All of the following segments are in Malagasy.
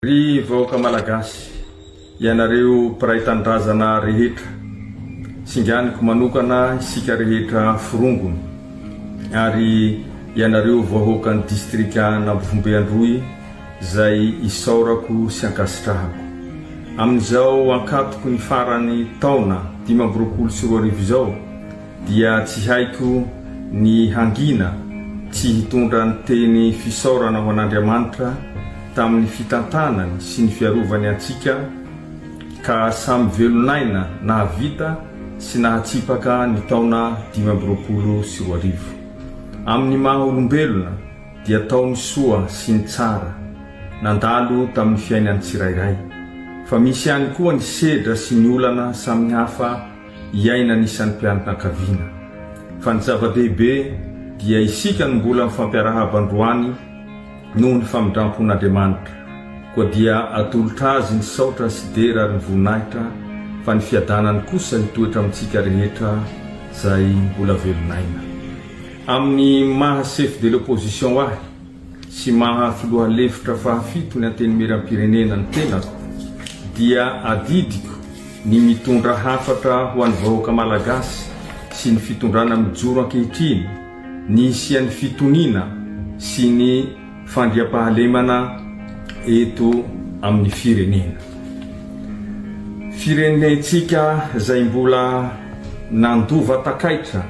Ry vahoaka Malagasy, ianareo mpiray tanindrazana rehetra, singaniko manokana isika rehetra forongony, ary ianareo vahoakan'ny distrikan'Ambovombe Androy izay isaorako sy ankasitrahako. Amin'izao ankatoky ny faran'ny taona dimy amby roapolo sy roa arivo izao, dia tsy haiko ny hangina tsy hitondra ny teny fisaorana ho an'Andriamanitra tamin'ny fitantanany sy ny fiarovany antsika ka samy velon'aina nahavita sy nahatsipaka ny taona dimy amby roapolo sy roa arivo. Amin'ny maha olombelona dia tao ny soa sy ny tsara nandalo tamin'ny fiainan'ny tsirairay fa misy ihany koa ny sedra sy ny olana samihafa iainan'ny isan'ny mpianakaviana. Fa ny zava-dehibe dia isika no mbola mifampiarahaba androany noho ny famindram-pon'Andriamanitra. Koa dia atolotra Azy ny saotra sy dera ary ny voninahitra fa ny fiadanany kosa hitoetra amintsika rehetra izay mbola velon'aina. Amin'ny maha chef de l'opposition ahy, sy maha filoha lefitra fahafito ny Antenimierampirenena ny tenako dia adidiko ny mitondra hafatra ho an'ny vahoaka Malagasy sy ny fitondrana mijoro ankehitriny ny hisian'ny fitoniana sy ny fandriampahalemana eto amin'ny firenena firenentsika izay mbola nandova takaitra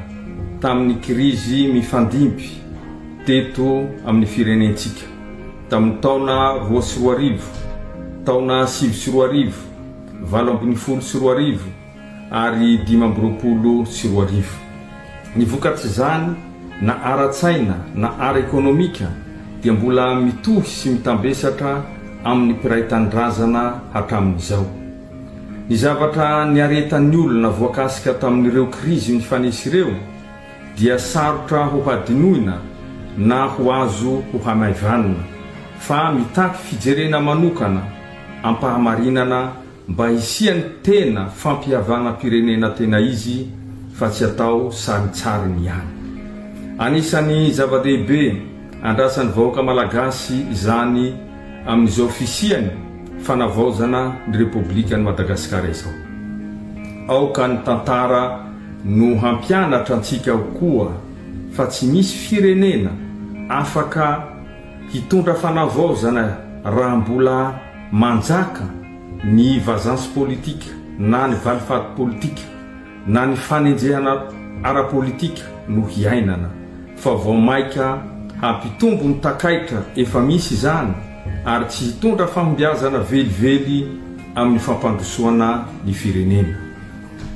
tamin'ny kirizy mifandimby teto amin'ny firenentsika tamin'ny taona roa sy roa arivo, taona sivy sy roa arivo, valo ambin'ny folo sy roa arivo ary dimy amby roapolo sy roa arivo. Ny vokatr'izany na ara-tsaina na ara-ekonomika dia mbola mitohy sy mitambesatra amin'ny mpiray tanindrazana hatramin'izao. Ny zavatra niaretan'ny olona voakasika tamin'ireo krizy nifanesy ireo, dia sarotra ho hadinoina na ho azo ho hanaivanina, fa mitaky fijerena manokana am-pahamarinana mba hisian'ny tena fampihavanam-pirenena tena izy fa tsy atao sarintsariny ihany. Anisan'ny zava-dehibe andrasan'ny vahoaka malagasy izany amin'izao fisian'ny fanavaozana ny Repoblikan'i Madagasikara izao. Aoka ny tantara. no hampianatra antsika koa fa tsy misy firenena afaka hitondra fanavaozana raha mbola manjaka ny vazance politique na ny valifaty politika na ny fanenjehana ara-politika no hiainana fa vao maika hampitombo ny takaitra efa misy izany ary tsy hitondra fahombiazana velively amin'ny fampandrosoana ny firenena.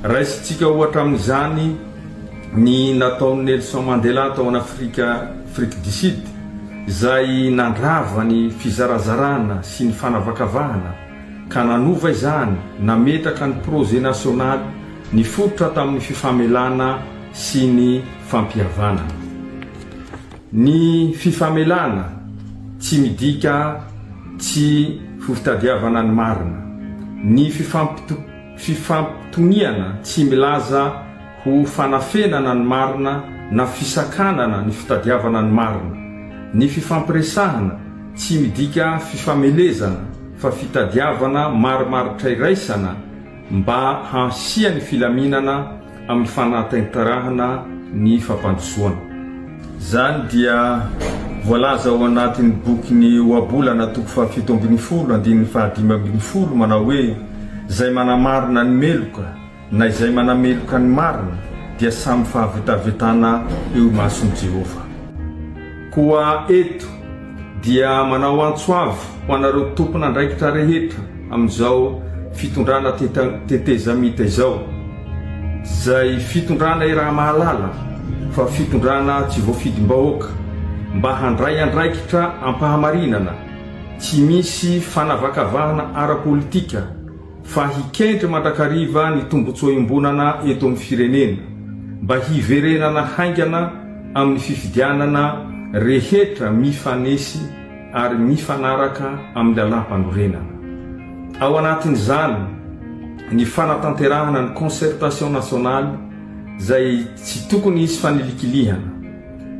Raisintsika ohatra amin'izany ny nataon'i Nelson Mandela tao an'Afrika, Afrique du Sud, izay nandrava ny fizarazarana sy ny fanavakavahana ka nanova izany, nametraka ny projet national nifototra tamin'ny fifamelana sy ny fampihavanana. Ny fifamelana tsy midika tsy ho fitadiavana ny marina. Ny fifampitokisana. fifampitoniana tsy milaza ho fanafenana ny marina na fisakanana ny fitadiavana ny marina. Ny fifampiresahana tsy midika fifamelezana fa fitadiavana marimaritra iraisana mba hahasiany filaminana, amin'ny fanataintarahana ny fampandrosoana. Izany dia voalaza ao anatin'ny bokin'ny Ohabolana toko fahafito ambin'ny folo andininy fahadimy ambin'ny folo manao hoe, Izay manamarina ny meloka na izay manameloka ny marina dia samy fahavetavetana eo imason'i Jehovah. Koa eto dia manao antso avo ho anareo tompon'andraikitra rehetra amin'izao fitondrana tetezamita izao, izay fitondrana iraha-mahalala fa fitondrana tsy voafidim-bahoaka, mba handray andraikitra am-pahamarinana, tsy misy fanavakavahana ara-politika, fa hikendry mandrakariva ny tombontsoa iombonana eto amin'ny firenena mba hiverenana haingana amin'ny fifidianana rehetra mifanesy ary mifanaraka amin'ny lalàmpanorenana. Ao anatin'izany ny fanatanterahana ny concertation nationale izay tsy tokony hisy fanilikilihana,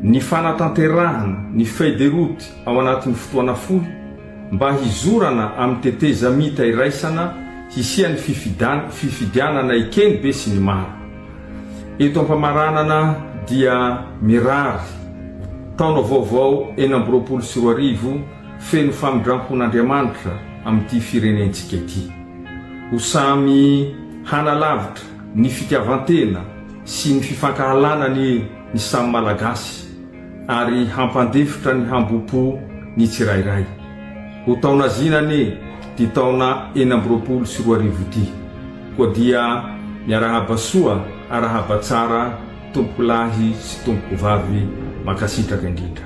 ny fanatanterahana ny feuille de route ao anatin'ny fotoana fohy, mba hizorana amin'ny tetezamita iraisana hisian'ny fifidianana eken'ny besinimaro. Eto am-pamaranana dia mirary taona vaovao enina amby roapolo sy roa arivo feno famindrampon'Andriamanitra amin'ity firenentsika ity. Ho samy hanalavitra ny fitiavan-tena sy ny fifankahalana anie ny samy Malagasy. Ary hampandefotra ny hambom-po ny tsirairay. Ho taona zina anie ty taona enina amby roapolo sy roa arivo ty. Koa dia miarahaba soa arahaba tsara tompokolahy sy tompokovavy mankasitraka indrindra.